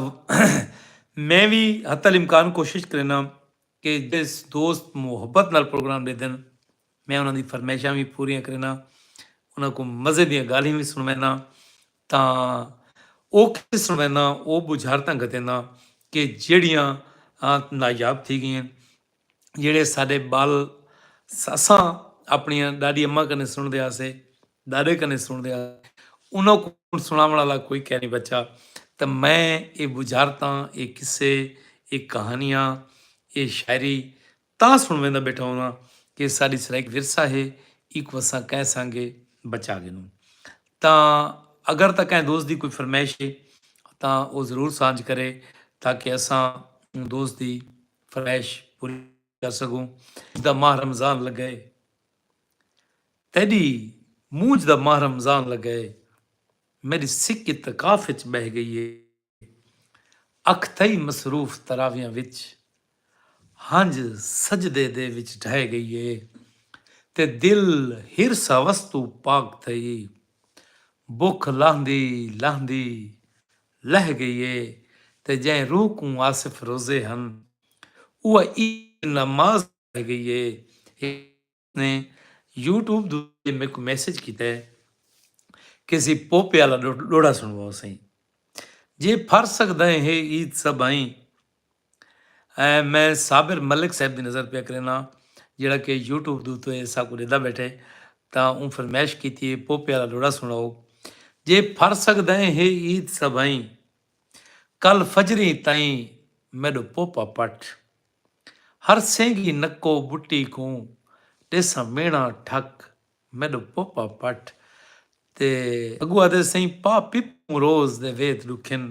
Speaker 1: میں وی حتی الامکان کوشش کرینداں کہ جس دوست محبت نال پروگرام ݙیندن میں انہاں دی فرمائشاں وی پوریاں کرینداں انہاں کوں مزے دیاں ڳالھیں وی سݨوینداں تاں او کیتے سݨوینداں او ٻجھارتاں گھتینداں کہ جیڑھیاں نایاب تھی ڳئین جیڑھے ساݙے ٻال اساں آپݨیاں ݙاݙی اماں کنیں سݨدے ہاسے ݙاݙے کنیں سݨدے ہا انہاں کوں سݨاوݨ آلا کوئی کینی بچا تے میں اے ٻجھارتاں، اے قصے، اے کہانیاں، اے شاعری تاں سݨویندا ٻیٹھا ہوندا کہ اے ساݙی سرائیک ورثہ ہے ایکوں اساں کئیں سانگے بچا گھنوں تاں اگر تاں کئیں دوست دی کوئی فرمائش ہے تاں او ضرور سانجھ کرے تاکہ اساں اوں دوست دی فرمائش پوری کر سگوں دا ماہ رمضان لگئے تیڈی مونجھ دا ماہ رمضان لگئے میڈی سک اتقاف اچ بہہ گئی اے اکھ تھئی مصروف تراویاں وچ ہنج سجدے دے وچ ڈھہہ گئی اے تے دل حرص ہوس توں پاک تھئی بکھ لاہندی لاہندی لہہ گئی اے تے جئیں روح کوں آصف روزے ہن اوہ عید نماز توں لہہ گئی اے ہک دوست نے یوٹیوب دو ذریعے میکوں میسج کیتے کیسی پوپے آلا ڈوڑا سنڑواؤ سئیں جے پھر سگدائیں ہے عید سبھائیں اے میں صابر ملک صاحب دی نظر پیا کرینا جیڑا کہ یوٹیوب دوتے سا کو ڈیدا بیٹھے تا اون فرمیش کیتی ہے پوپے والا لوڑا سنڑاؤ جے پھر سکدائیں ہے عید سبھائیں کل فجریں تائیں میڈو پوپا پٹ ہر سینگی نکو بٹی کوں ڈیسا مینا ٹھک میڈو پوپا پٹ تے اگو آدے سائیں پا پپوں روز دے وید ڈکھن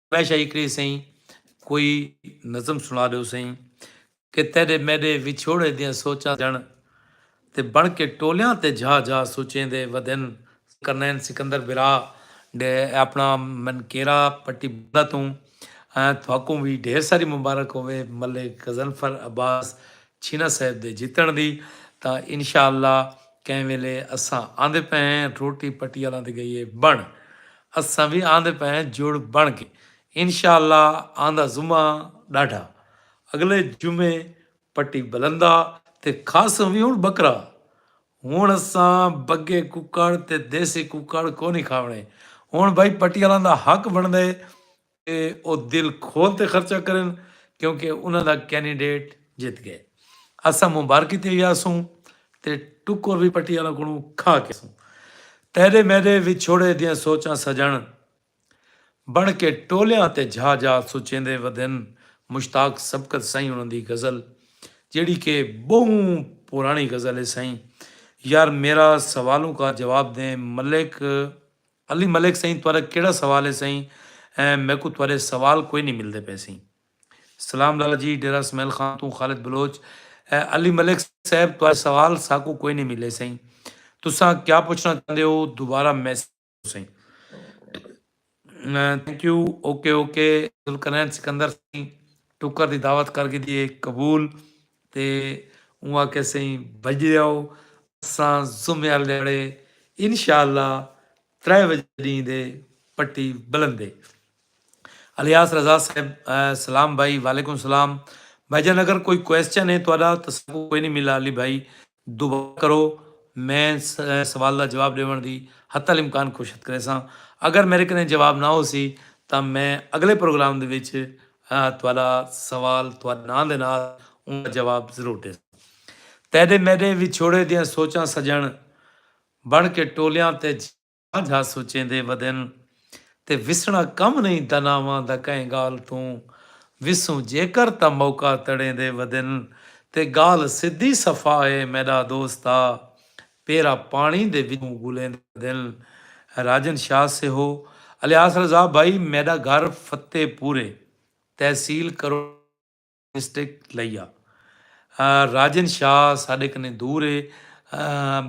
Speaker 1: میں شاہی کری سئیں کوئی نظم سنا دیو سئیں کہ تیرے میرے وچھوڑے دیاں سوچاں جن تے بن کے ٹولیاں تے جھا جھا سوچیں دے ودن کرنین سکندر بھرا ڈے اپنا من کیرا پٹی بندہ توں تھاکوں وی ڈھیر ساری مبارک ہوے ملے غزنفر عباس چھینا صاحب دے جتن دی تاں انشاءاللہ کہیں ویلے اساں آندے پئے ہیں روٹی پٹی آلاں تے گئی ہے بن اساں وی آندے پئے ہیں جڑ بن کے انشاء اللہ آندا جمعہ ڈاڈھا اگلے جمعے پٹی بلندا تے کھاسوں وی ہن بکرا ہن اساں بگے ککڑ تے دیسی ککڑ کونی کھاونے ہن بھائی پٹی آلاں دا حق بندا ہے تے او دل کھول تے خرچہ کرن کیونکہ انہاں دا کینڈیڈیٹ جت گئے۔ اساں مبارکی تے یاسوں تے ٹکر وی پٹی آلاں کولوں کھا کے یاسوں۔ تیڈے میڈے وچھوڑے دیاں سوچاں سجݨ بݨ کے ٹولیاں تے جھا جھا سچیندے ودن مشتاق سبقت سئیں انہاں دی غزل جیڑھی کہ بہوں پراݨی غزل ہے سئیں یار میرا سوالوں کا جواب دیں ملک علی ملک سئیں تہاڈا کیہڑا سوال ہے سئیں میکوں تہاڈے سوال کوئی نی ملدے پئے سئیں۔ سلام لالا جی ڈیرہ اسمعیل خان توں خالد بلوچ علی ملک صاحب تہاڈے سوال ساکوں کوئی نی ملے سئیں تساں کیا پچھنا چاہندے ہو دوبارہ میسج کرو سئیں thank you okay okay Zulqarnain Sikandar سئیں ٹکر دی دعوت کر گھدی ہے قبول۔ تے اوں آکھیا سئیں بھڄدے آؤ اساں جمعے آلے ڈھیاڑے انشاء اللہ ترے وجے ڈینہہ دے پٹی بلندے الیاس رضا صاحب سلام بھائی وعلیکم سلام بھائی جان اگر کوئی کوئسچن ہے تہاڈا تساکوں کوئی نہیں ملا علی بھائی دعا کرو میں سوال دا جواب ڈیونڑ دی حتی الامکان کوشت کریساں اگر میرے کنے جواب نہ ہوسی تاں میں اگلے پروگرام دے وچ تہاڈا سوال تہاڈے ناں دے نال اوں دا جواب ضرور ڈیساں تیڈے میڈے وچھوڑے دیاں سوچاں سجنڑ بنڑ کے ٹولیاں تے سانجھا سوچیندے ودن تے وسݨا کم نئیں داناواں دا کہیں ڳالھ توں وسوں جیکر تاں موقع تڑیندے ودن تے ڳالھ سدھی صفا اے میݙا دوست آ پیرا پاݨی دے وچوں ڳولیندے ودن راجن شاہ سیہو الیاس رضا بھائی میݙا گھر فتح پورے تحصیل کرو مسٹیک لئی آ۔ راجن شاہ ساڈے کنیں دور ہے۔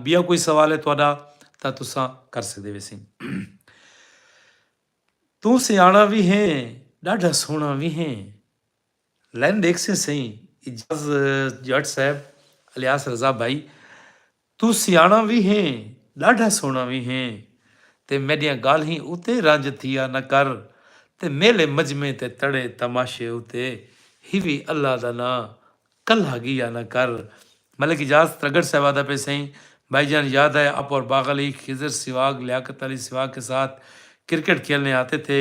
Speaker 1: بیا کوئی سوال ہے تہاڈا تاں تساں کر سکدے ویسیں۔ توں سیاݨا وی ہیں ݙاڈھا سوہݨا وی ہیں۔ لائن ݙیکھسیں سئیں اعجاز جٹ صاحب الیاس رضا بھائی توں سیاݨا وی ہیں، ݙاڈھا سوہݨا وی ہیں تے میݙیاں ڳالھیں اتے رنج تھیا نہ کر تے میلے مجمعے تے تڑے تماشے اتے ہیوی اللہ دا ناں کلھا ڳیا نہ کر۔ ملک اجاز ترگڑ صاحب آہدا پئے سئیں بھائی جان یاد ہے آپ اور باغ علی، خضر سیواگ، لیاقت علی سیواگ کے ساتھ کرکٹ کھیلنے آتے تھے،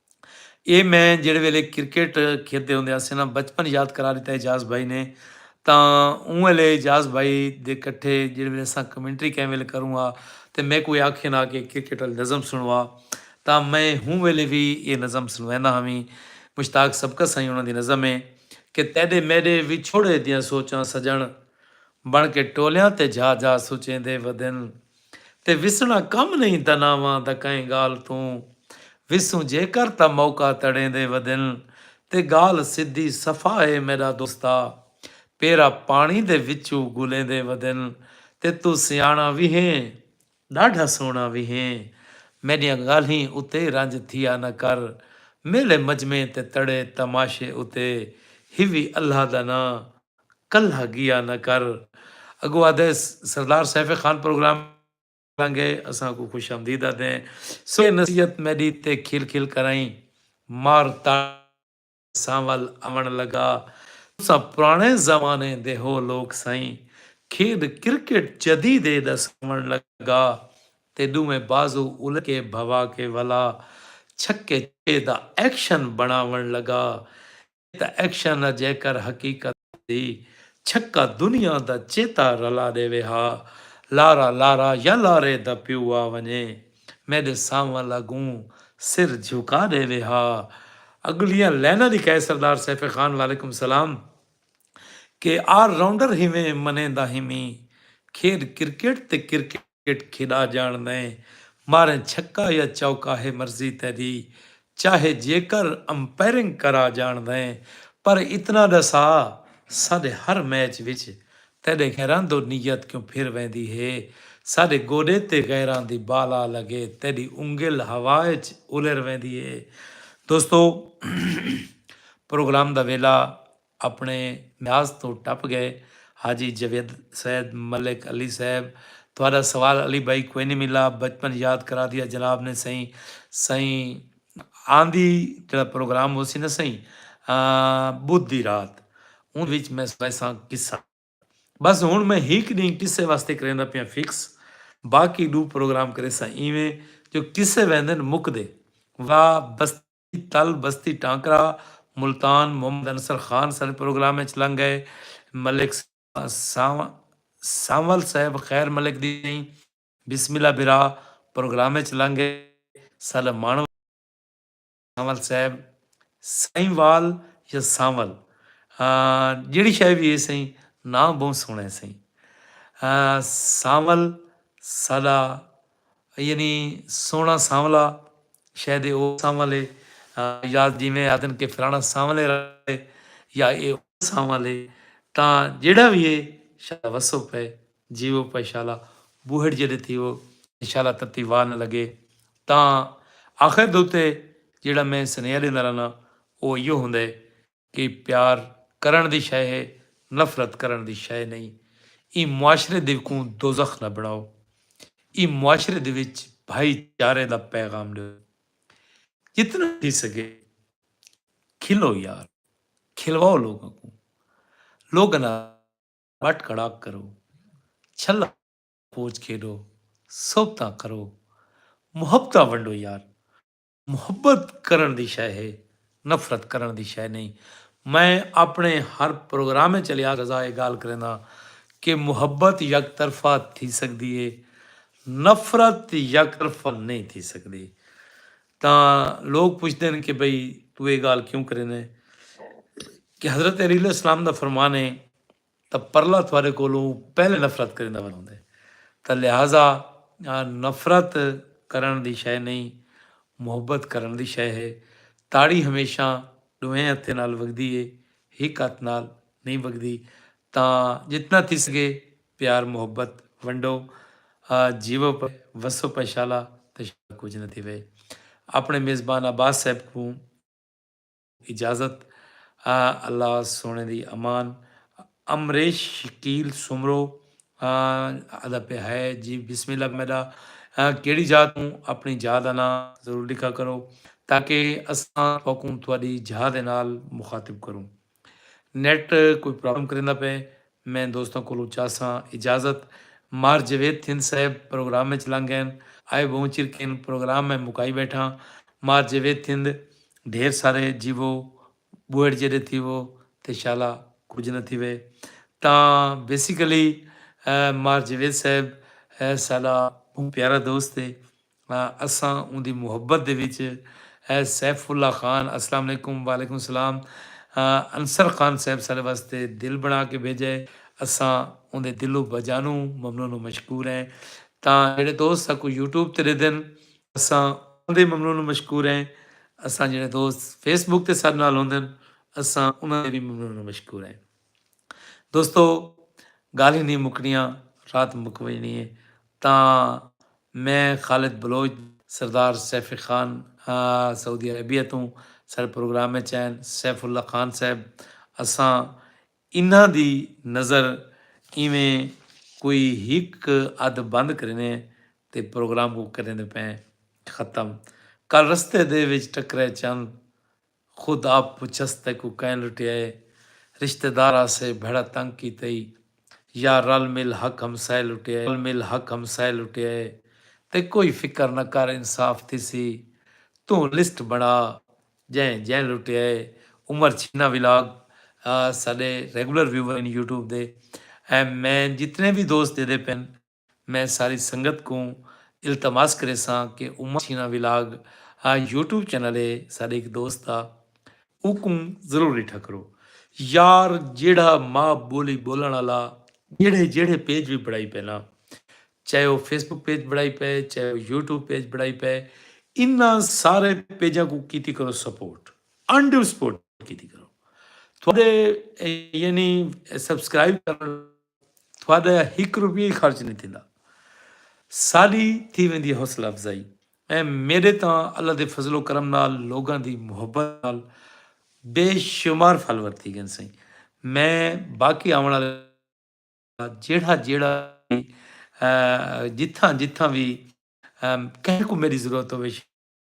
Speaker 1: اے میں جیڑھے ویلے کرکٹ کھیدے ہوندے ہاسے نا بچپن یاد کرا ڈتا اعجاز بھائی نے تاں اوں ویلے اعجاز بھائی دے کٹھے جیڑھے ویلے اساں کمنٹری کہیں ویلے کروں ہا تاں میکوں اے آکھن ہا کہ کرکٹ آلی نظم سنڑوا تاں میں ہوں ویلے وی اے نظم سنڑویندا ہاویں مشتاق سبکت سائیں انہاں دی نظم ہے کہ تیڈے میڈے وچھوڑے دیاں سوچاں سجنڑ بنڑ کے ٹولیاں تے جا جا سوچیندے ودن۔ تے وسنڑاں کم نئیں دناواں دا کئیں گالھ توں وسوں جیکر تاں موقع تڑیندے ودن تے گالھ سدھی صفا ہے میڈا دوستا پیرا پانڑی دے وچو گلیندے ودن تے توں سیانڑاں وی ہیں ڈاڈھا سوہنڑاں وی ہیں میڈیاں گالھیں اتے رنج تھیا نہ کر میلے مجمعیں تے تڑے تماشے اتے ہیوی اللہ دا ناں کلہا گیا نہ کر اگو آدھے سردار سیف خان پروگرام لانگے اساں کوں خوش آمدید آدھیں سوئے نصیحت میڈی تے کھل کھل کرائیں مار تاڑ سانول آون لگا تساں پرانے زمانے دے ہو لوک سائیں کھیڈ کرکٹ جدید اے ڈس آون لگا تے ڈوویں بازو الٹ کے بھوا کے ولا چھکے چھکے دا ایکشن بناون لگا اے تاں ایکشن ء جیکر حقیقت دی چھکا دنیا دا چیتا رلا ڈیوے ہا لارا لارا یا لارے دا پیو آ ونجے میڈے سانول اگوں سر جھکا ڈیوے ہا اگلیاں لائناں لکھائے سردار سیف خان وعلیکم سلام کے آر راؤنڈر ہیویں منیندا ہیویں کھیڈ کرکٹ تے کرکٹ کرکٹ کھیݙا جاݨ میں ماریں چھکا یا چوکا ہے مرضی تیݙی چاہے جیکر امپیرنگ کرا جاݨ میں پر اتنا ݙسا ساݙے ہر میچ وچ تیݙے غیراں دو نیت کیوں پھر ویندی ہے ساݙے گوݙے تے غیراں دی بال آ لڳے تیݙی انگل ہوا اچ الر ویندی ہے دوستو پروگرام دا ویلا اپݨے میعاد توں ٹپ ڳئے۔ حاجی جاوید سید ملک علی صاحب تہاݙا سوال علی بھائی کوئنی ملا بچپن یاد کرادیا جناب نے سئیں سئیں آندی جیڑھا پروگرام ہوسی نا سئیں بدھ دی رات اوندے وچ میں سݨائیساں قصہ بس ہݨ میں ہک ݙینہہ قصے واسطے کریندا پیاں فکس باقی ݙو پروگرام کریساں ایویں جو قصے ویندن مکدے وا بستی تل، بستی ٹانکرہ، ملتان، محمد انصر خان سݙ پروگرام اچ لنگھ ڳئے، ملک سانول صاحب خیر ملک دی سئیں بسم اللہ برا پروگرام اچ لنگھ ڳئے، ساݙا ماݨ وال سانول صاحب، سائیں وال یا سانول جیڑھی شئے وی ہے سئیں ناں ٻہوں سوہݨا ہے سئیں سانول ساݙا۔ یعنی سوہݨا سانولا شے دے او سانول ہے یا جیویں آہدن کہ فلاݨا سانولے رہے یا اے او سانول ہے تاں جیڑھا وی ہے شالا وسو پئے جیوو پئے شالا بوہڑ جیڈے تھیوو تے شالا تتی واہ نہ لگے تاں آخر دے اتے جیڑھا میں سنیہا ڈیندا رہنا او ایہو ہوندا ہے کہ پیار کرݨ دی شئے ہے نفرت کرݨ دی شئے نئیں ایں معاشرے دے کوں دوزخ نہ بݨاؤ ایں معاشرے دے وچ بھائی چارے دا پیغام ݙیو جتنا تھی سڳے کھلو یار کھلواؤ لوکاں کوں لوکاں نال ٻٹ کڑاک کرو چھلا پوچ کھیݙو صحبتاں کرو محبتاں ونڈو یار محبت کرݨ دی شئے ہے، نفرت کرݨ دی شئے نئیں۔ میں اپݨے ہر پروگرام اچ الیاضزا اے ڳالھ کرینداں کہ محبت یک طرفہ تھی سڳدی ہے، نفرت یک طرفہ نئیں تھی سڳدی۔ تاں لوک پچھدن کہ بھئی توں اے ڳالھ کیوں کریندیں کہ حضرت علیہ السلام دا فرمان ہے۔ تاں پرلا تہاݙے کولوں پہلے نفرت کریندا ول ہوندے تاں لہذا نفرت کرݨ دی شئے نئیں محبت کرݨ دی شئے ہے، تاڑی ہمیشاں ݙوہیں ہتھیں نال وڳدی ہے ہک ہتھ نال نئیں وڳدی تاں جتنا تھی سڳے پیار محبت ونڈو جیوو پئے وسو پئے شالا تے شالا کجھ نہ تھیوے اپݨے میزبان عباس صاحب کوں اجازت ء اللہ سوہݨے دی امان امریش شکیل سومرو آدا پہ ہے جی بسم اللہ میڈا کیڑی جاہ توں اپنی جاہ دا ناں ضرور ڈکھا کرو تاکہ اساں تواکوں تواڈی جاہ دے نال مخاطب کروں نیٹ کوئی پرابلم کریندا پے میں دوستاں کولوں چاساں اجازت۔ مار جوید تھند صاحب پروگرام اچ لنگ گئن۔ آئے بہوں چر کن پروگرام میں مکائی بیٹھاں۔ مار جوید تھند ڈھیر سارے جیوو بوہڑ جیڈے تھیوو تے شالا کجھ نہ تھیوے۔ تاں بیسیکلی مار جوید صاحب ساڈا بہوں پیارا دوست ہے۔ اساں اوندی محبت دے وچ اے سیف اللہ خان السلام علیکم وعلیکم السلام انصر خان صاحب ساڈے واسطے دل بنا کے بھیجا ہے اساں اوندے دلو بجانو ممنون و مشکور ہیں تاں جیڑے دوست ساکوں یوٹیوب تے ڈیدن اساں اوندے ممنون و مشکور ہیں اساں جیڑے دوست فیس بک تے ساڈے نال ہوندن اساں انہاں دے وی ممنون و مشکور ہیں۔ دوستو گالھیں نہیں مکنیاں رات مک وجنی ہے تاں میں خالد بلوچ سردار سیفی خان سعودی عربیہ توں سارے پروگرام اچ آئن سیف اللہ خان صاحب اساں انہاں دی نظر ایویں کوئی ہک ادھ بند کرینے تے پروگرام کو کریندے پئیں ختم کل رستے دے وچ ٹکرے چند خود آپ پچھس تیکوں کئیں لٹیا اے رشتہ دار آسے بھیڑا تنگ کیتے ای یا رل مل حق ہمسائے لٹیا اے رل مل حق ہمسائے لٹیا اے تے کوئی فکر نہ کر انصاف تھیسی توں لسٹ بنڑا جئیں جئیں لٹیا اے عمر چھینا ولاگ ساڈے ریگولر ویور ہن یوٹیوب دے ایں میں جتنے وی دوست جیدے پن میں ساری سنگت کوں التماس کریساں کہ عمر چھینا ولاگ یوٹیوب چینل اے ساڈے ہک دوست دا اوکوں ضرور ڈٹھا کرو یار جیڑھا ماء بولی بولن آلا جیڑھے جیڑھے پیج وی بنڑائی پئے نا چاہے او فیس بک پیج بنڑائی پئے چاہے او یوٹیوب پیج بنڑائی پئے انہاں سارے پیجاں کوں کیتی کرو سپورٹ ان ڈیو سپورٹ کیتی کرو تہاڈے یعنی سبسکرائب کرن تہاڈا ہک روپیہ وی خرچ نئیں تھیندا۔ ساڈی تھی ویندی ہے حوصلہ افزائی۔ ایں میڈے تاں اللہ دے فضل و کرم نال لوگاں دی محبت نال بے شمار فالوور تھی گئن سئیں۔ میں باقی آوݨ آلے لوکاں دا جیڑھا جیڑھا وی جتھاں جتھاں وی کہیں کوں میڈی ضرورت ہووے شیئر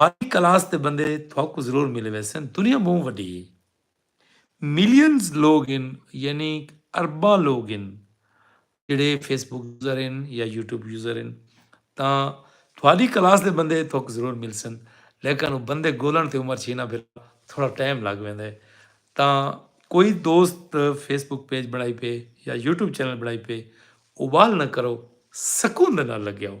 Speaker 1: ہائی کلاس دے بندے تھوکوں ضرور ملے ویسن دنیا بہوں وڈی ہے ملینز لوگ ہن یعنی ارباں لوگ ہن جڑے فیس بک یوزر ہن یا یوٹیوب یوزر ہن تاں تھوڑی کلاس دے بندے تھوک ضرور مل سن لیکن وہ بندے گولن تے عمر چھینا پھر تھوڑا ٹائم لگ ویندے ہے تاں کوئی دوست فیس بک پیج بنائی پے یا یوٹیوب چینل بنائی پے اوبال نہ کرو سکون دے نال لگیا ہو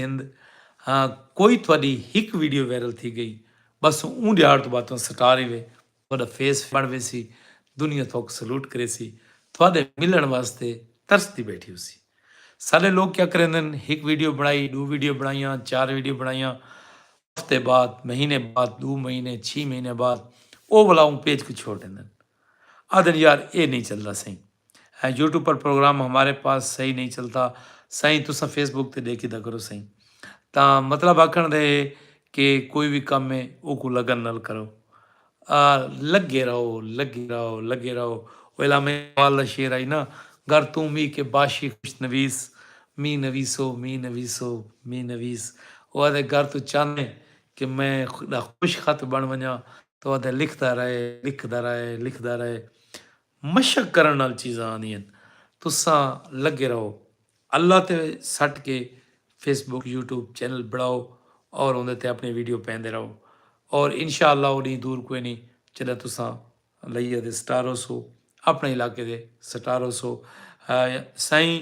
Speaker 1: ہند ہاں کوئی تہاڈی ہک ویڈیو وائرل تھی گئی بس اوں ڈیہاڑ توں بعد تہاں سٹار ہی وے تہاڈا فیس بن ویسی دنیا تہاک سلوٹ کریسی تہاڈے ملن واسطے ترس دی بیٹھی ہوسی ساڈے لوگ کیا کریندن ہک ویڈیو بنڑائی ڈو ویڈیو بنڑائیاں چار ویڈیو بنڑائیاں ہفتے بعد مہینے بعد دو مہینے چھی مہینے بعد او ولا اوں پیج کوں چھوڑ ڈیندن آدھن یار اے نی چلدا سئیں۔ اے یوٹیوب پر پروگرام ہمارے پاس صحیح نہیں چلتا سائیں تساں فیس بک تے ڈیکھیدا کرو سائیں تاں مطلب آکھن دے ہے کہ کوئی وی کم ہے اوکوں لگن نال کرو آ لگے رہو لگے رہو لگے رہو او علامہ اقبال دا شعر ہئی نا گر توں مھی کے باشی خوش نویس مھی نویسو مھی نویسو مھی نویس او آدھے گر توں چاہندے کہ میں دا خوش خط بن ونجاں تاں او آدھے لکھدا رہے لکھدا رہے لکھدا رہے مشق کرݨ نال چیزاں آندی ہن تساں لگے رہو اللہ تے سٹ کے فیس بک یوٹیوب چینل بنڑاؤ اور اوندے تے اپنی ویڈیو پیندے رہو اور انشاء اللہ او ڈینہہ دور کوئی نیں جڈاں تساں لئیہ دے سٹار ہوسو اپنے علاقے دے سٹار ہوسو سائیں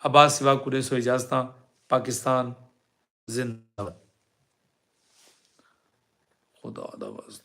Speaker 1: عباس سوا کو ڈیسو اجازتاں پاکستان زندہ باد خدا دا واسطہ